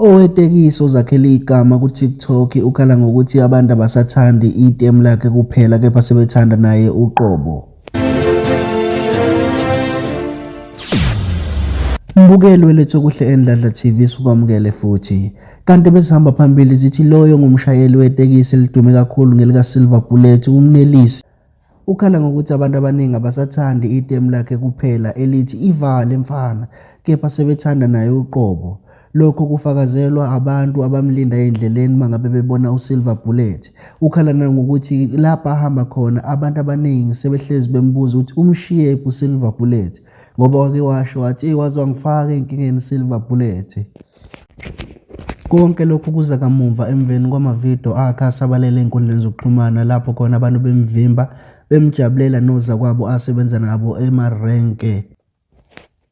Owetekisi ozakhele igama ku-TikTok ukhala ngokuthi abantu abasathandi itemu lakhe kuphela kepha sebethanda naye uqobo. Mbukeli weLethe Okuhle eNdladla TV sukwamukele futhi. Kanti besihamba phambili zithi loyo ngumshayeli wetekisi elidume kakhulu ngelika Silver Bullet uMnelisi Ukhala ngokuthi abantu abaningi abasathandi itemu lakhe kuphela elithi ivale mfana kepha sebethanda naye uqobo. Lokho kufakazelwa abantu abamlinda endleleni mangabe bebona uSilver Bullet. Ukhala nangokuthi lapha ahamba khona abantu abaningi sebehlezi bembuza ukuthi umshiye ephi uSilver Bullet. ngoba wake washo wathi eyi waze wangifaka ey'nkingeni silver bullet konke lokhu kuza kamumva emveni kwamavidiyo akhe asabalele ey'nkundleni zokuxhumana lapho khona abantu bemvimba bemjabulela nozakwabo asebenza nabo emarenke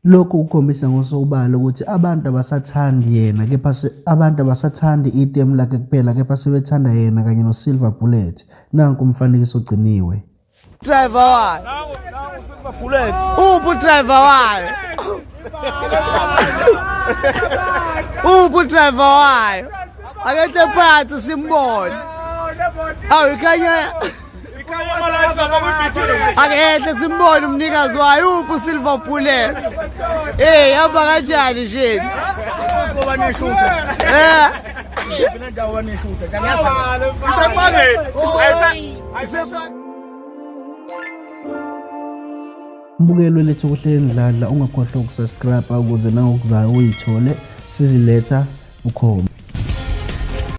Lokhu kukhombisa ngosobala ukuthi abantu abasathandi yena kepha abantu abasathandi itemu lakhe kuphela kepha sebethanda yena kanye noSilver Bullet. Nanku umfanekiso ogciniwe. Driver wayo. Nawu nawu sikuba bullet. Uphu driver wayo. Uphu driver wayo. Akethe phansi simbone. Awu ikhanya Akethe simbone umnikazi wayo uphu silver bullet. Eh yaba kanjani nje? Ngoba neshutha. Eh. Phela ndawo neshutha. Kanyaza. Isaqale. Mbukelo lethu kuhleleni dladla ungakhohlwa ukusubscribe ukuze nangokuzayo uyithole siziletha ukhona